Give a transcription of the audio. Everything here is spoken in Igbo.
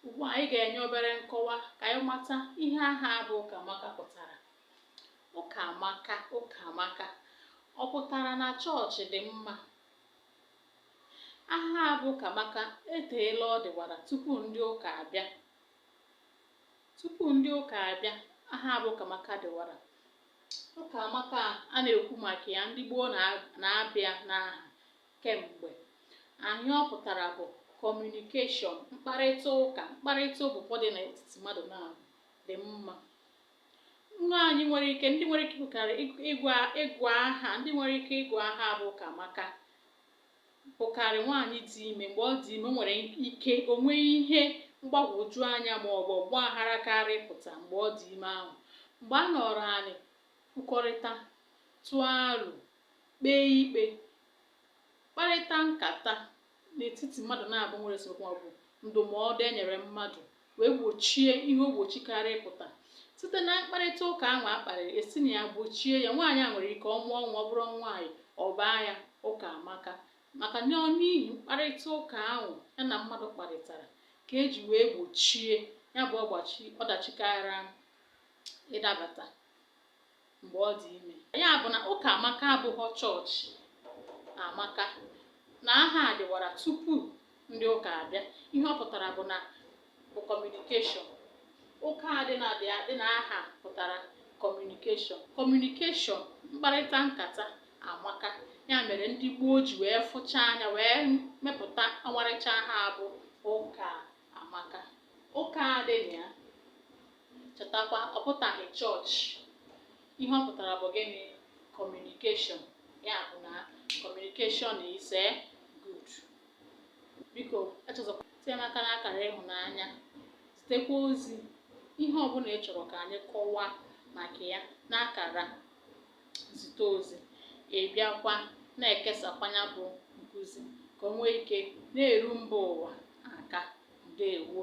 Ugbu a, anyị ga-enye obere nkọwa ka anyị mata ihe aha a bụ Ụkamaka pụtara. Ụkamaka, Ụkamaka, ọ pụtara na chọọchị dị mma? Aha a bụ Ụkamaka eteela ọ dịwara tupu ndị ụka abịa. Tupu ndị ụka abịa, aha a bụ Ụkamaka dịwara. Ụkamaka a na-ekwu maka ya ndị gboo na-aba ya n'aha kemgbe. Ihe ọ pụtara bụ kọmunikeshọn, mkparịta ụka, mkparịta ụbụbọ dị n'etiti mmadụ na-adị mma. Nwaanyị nwere ike ndị nwere ike ịgụkarị ịgụ aha ndị nwere ike ịgụ aha bụ Ụkamaka bụkarị nwaanyị dị ime mgbe ọ dị ime nwere ike o nwee ihe mgbagwoju anya ma ọ bụ ọgba aghara kara ịpụta mgbe ọ dị ime ahụ mgbe a nọrọ anị kwukọrịta tụọ aro kpee ikpe kparịta nkata n'etiti mmadụ naabọ nwere esemokwu maọbụ ndụmọdụ e nyere mmadụ wee gbochie ihe ogbochi kara ịpụta site na mkparịta ụka ahụ a kparịrị e si na ya gbochie ya nwaanyị a nwere ike ọ mụọ nwa ọ bụrụ nwaanyị ọ baa ya Ụkamaka maka na n'ihi mkparịta ụka ahụ ya na mmadụ kparịtara ka e ji wee gbochie ya bụ ọgbachi ọdachi kara ịdabata mgbe ọ dị ime. Ya bụ na Ụkamaka abụghọ chọọchị amaka na aha a dịwara tupu ndị ụka abịa. Ihe ọ pụtara bụ na bụ kọmunikeshọn. Ụka a dị na dị a- dị n'aha pụtara kọmunikeshọn. Kọmunikeshọn, mkparịta nkata amaka. Ya mere ndị gboo ji wee fụcha anya wee mepụta ọmarịcha aha a bụ Ụkamaka. Ụka a dị na ya Chetakwa, ọ pụtaghị chọọchị. Ihe ọ pụtara bụ gịnị? Kọmunikeshọn. Ya bụ na kọmunikeshọn is a eh, good. Biko echezọkwana itinye m aka n'akara ịhụnanya zitekwa ozi ihe ọbụla ị chọrọ ka anyị kọwaa maka ya n'akara nzite ozi ị bịakwa na-ekesakwanụ ya bụ nkụzi ka o nwee ike na-eru mba ụwa aka ndewo